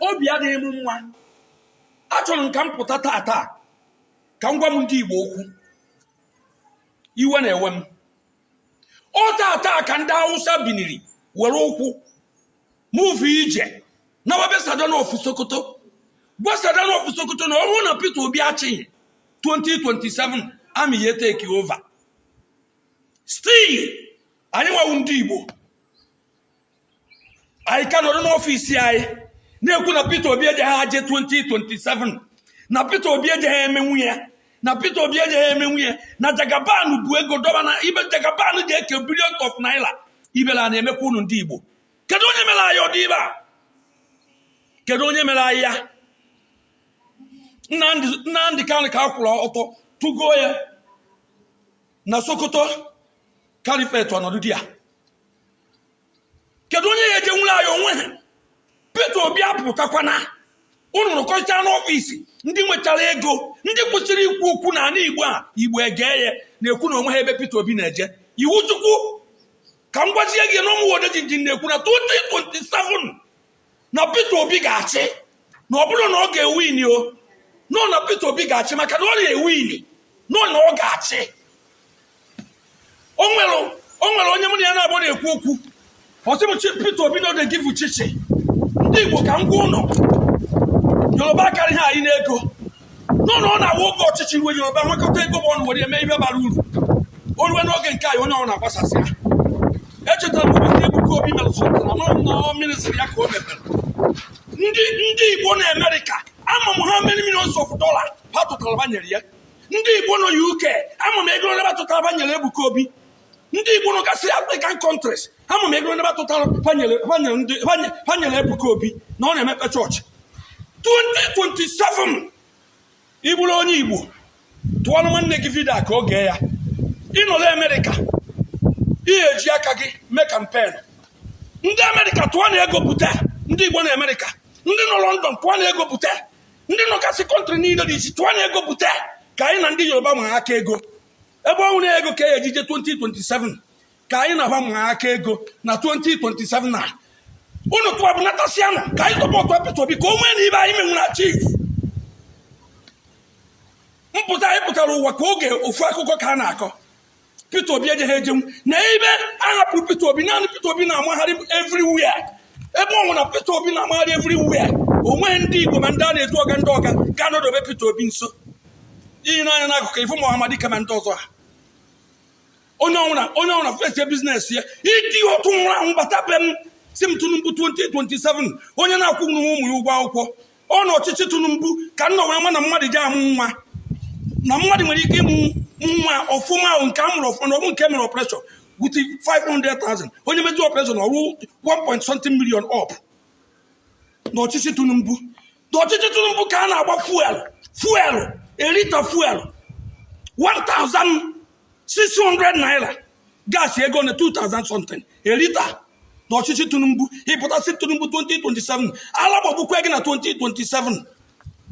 obi adịghị m mma achọrọ m ka m pụta taa taa ka m gwa m ndị Igbo okwu iwe na-ewe m o taa taa ka ndị Hausa biniri were ụkwụ move ije nawa be Sardauna of Sokoto gwa Sardauna of Sokoto na ọ bụrụ na Peter Obi achịghị 2027 army ya-etake over still anyị nwa wụ ndị Igbo anyị ka nọrọ n'ọfịs anyị na-ekwu na Peter Obi ejeghị aje 2027 na Peter Obi ejeghị emenwu ya na Peter Obi ejeghị emenwu ya na Jagaban bu ego dọba na ibe Jagaban ji eke billions of naira ibele na-emekwa unu ndị Igbo kedu onye mere anyị ụdị ibe a kedu onye mere anyị ya Nnamdi Nnamdi Kanu ka akwụrụ ọtọ tụgo ya na Sokoto Caliphate ọ nọdụ di ya kedu onye ya-ejenwuru anyị o nwehe Peter Obi apụtakwana unu rụkọcha n'ọfịs ndị nwechara ego ndị kwesịrị ikwu okwu na ana Igbo a Igbo egee ya na-ekwu na o nwehe ebe Peter Obi na-eje ị wụ Chukwu ka m gwazie gị na ụmụ odeji ji na-ekwu na 2027 na Peter Obi ga-achị na ọ bụrụ na ọ ga-ewin o nọ na Peter Obi ga-achị maka na ọ ya-ewin nọ na ọ ga-achị o nwere o nwere onye mụ na ya na-abụ na-ekwu okwu ọ sị m chi Peter Obi na ọ na-egivu chichi ndị Igbo ka m gwa unu Yoruba akarịhe anyị n'ego nọ na ọ na-awụ oge ọchịchị ruo yoruba wekọta ego ba ọnụ were eme ihe bara uru o ruo n'oge nke anyị onye ọ na-agbasasịa echetara m ụbọchị ebuka obi mere sọtara mara m na ọ ministry ya ka o mepere ndị ndị igbo na amerịka ama m how many millions of dollars ha tụtara ba nyere ya ndị igbo nọ uk ama m ego ole ba tụtara ba nyere ebuka obi ndị igbo nọgasị african countries ama m ego ole ba tụtara ha nyere ebuka obi na ọ na-emepe chọọchị 2027 ị bụrụ onye igbo tụọrọ nwanne gị vidio ka oge ya ị nọrọ amerịka ị ya-eji aka gị mee campaign ndị amerịka tụọnụ ego pụta ndị igbo na amerịka ndị nọ london tụọnụ ego pụta ndị nọgasị country niile dị iche tụọnụ ego pụta ka anyị na ndị yoruba maa aka ego ebe ọ nwere ego ka a ya-eji eje 2027 ka anyị na ba maa aka ego na 2027 na unu tụwa bụ natasịanụ ka anyị supportụọ Peter Obi ka o nwee na ibe anyị menwuru achieve mpụta anyị pụtara ụwa ka oge ofu akụkọ ka a na-akọ Peter Obi ejeghị ejenwu na ebe a hapụrụ Peter Obi naanị Peter Obi na-amagharị everywhere ebe ọ wụna Peter Obi na-amagharị everywhere o nweghị ndị Igbo ma ndị a na-etu ọga ndị ọga ga-anọdobe Peter Obi nso iyi n'anya n'akụkụ ifu Muhammad kama ndị ọzọ ha onye ọwụna onye ọwụna fesie business ya iti otu nwụrụ anwụ bata be m sị m Tinubu 2027 onye na-akwụnwu ụmụ ya ụgwọ akwụkwọ ọ n'ọchịchị Tinubu ka m nọ wee ma na mmadụ ji amụ nwa na mmadụ nwere ike ịmụ nwa ọfụma ahụ nke a mụrụ ọfụma na ọ bụ nke e mere operation with 500,000 onye mezie operation o ruo 1 point something million up n'ọchịchị Tinubu ọchịchị Tinubu ka a na-agba fuel fuel a liter fuel 1600 naira gas ego na 2000 something a liter n'ọchịchị Tinubu ị pụta sị Tinubu 2027 ala gbagbukwe gị na 2027